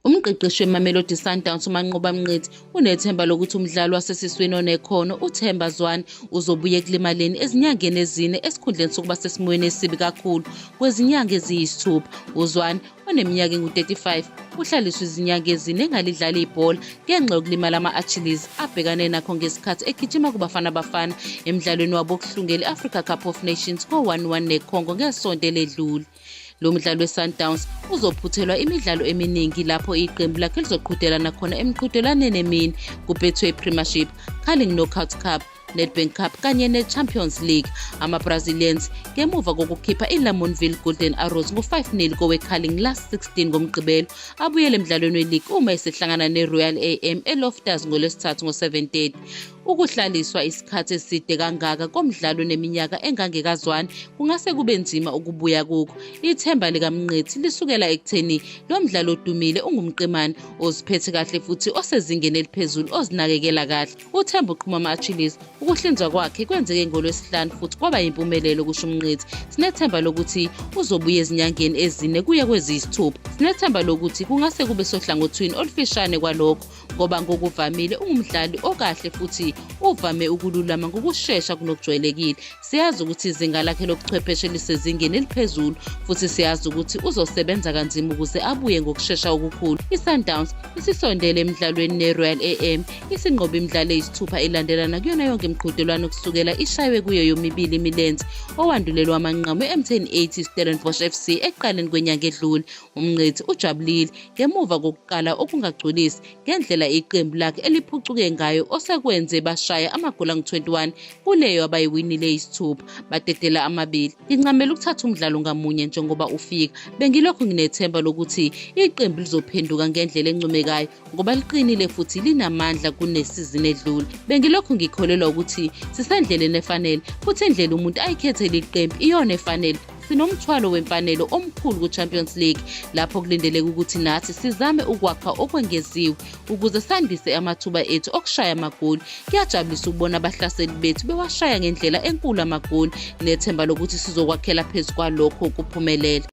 Umqeqeshi weMamelodi Sundowns uManqoba Mngqithi unethemba lokuthi umdlali wasesiswini onekhono uThemba Zwane uzobuya ekulimaleni ezinyangeni ezine esikhundleni sokuba sesimweni esibi kakhulu kwezinyanga eziyisithupha. UZwane oneminyaka engu-35 uhlaliswe izinyanga ezine engalidlali ibhola ngenxa yokulimala ama-achilles abhekane nakho ngesikhathi egijima kubafana bafana emdlalweni wabo wokuhlungela i-africa cup of nations ko-11 necongo ngesonto eledlule Lo mdlali weSundowns uzophuthelwa imidlalo eminingi lapho iqembu lakhe lizoqhudelana khona emqhudelwaneni emini kuBetway Premiership, Carling Knockout Cup, Nedbank Cup kanye neChampions League. AmaBrazilians ngemuva kokukhipha iLamontville Golden Arrows ngo-5-0 koweCarling Last 16 ngoMgqibelo abuyele emdlalweni weligi uma esehlangana neRoyal AM eLoftus ngoLwesithathu ngo-7:30. Ukuhlaliswa isikhathi eside kangaka komdlalo neminyaka engangekazwani kungase kube nzima ukubuya kukho. Ithemba likaMnqethi lisukela ekutheni lo mdlalo odumile ungumqemane oziphethe kahle futhi osezingeni eliphezulu ozinakekela kahle. Uthemba uqhuma ama-achilles. Ukuhlinzwa kwakhe kwenzeke ngolwesihlanu futhi kwaba yimpumelelo kusho uMnqethi. Sinethemba lokuthi uzobuya ezinyangeni ezine kuye kweziyisithupha. Sinethemba lokuthi kungase kube sohlangothini olufishane kwalokho ngoba ngokuvamile ungumdlali okahle futhi uvame ukululama ngokushesha kunokujwayelekile siyazi ukuthi izinga lakhe lobuchwepheshe lisezingeni eliphezulu futhi siyazi ukuthi uzosebenza kanzima ukuze abuye ngokushesha okukhulu isundowns isisondele emdlalweni neroyal am isinqobe imidlalo eyisithupha elandelana kuyona yonke imiqhudelwano kusukela ishaywe kuyo yomibili imilenze owandulelwa amanqamu e-mtn 80 stellenbosch fc ekuqaleni kwenyanga edlule UMngqithi ujabulile ngemuva kokuqala okungagculisi ngendlela iqembu lakhe eliphucuke ngayo osekwenze bashaya amagoli angu-21 kuleyo abayiwinile isithupha badedela amabili. Ngincamela ukuthatha umdlalo ngamunye njengoba ufika. Bengilokhu nginethemba lokuthi iqembu lizophenduka ngendlela encomekayo ngoba liqinile futhi linamandla kunesizini edlule bengilokhu ngikholelwa ukuthi sisendleleni efanele futhi indlela umuntu ayikhethe leli qembu iyona efanele sinomthwalo wemfanelo omkhulu ku-champions league lapho kulindeleke ukuthi nathi sizame ukwakha okwengeziwe ukuze sandise amathuba ethu okushaya amagoli kuyajabulisa ukubona abahlaseli bethu bewashaya ngendlela enkulu amagoli nethemba lokuthi sizokwakhela phezu kwalokho kuphumelela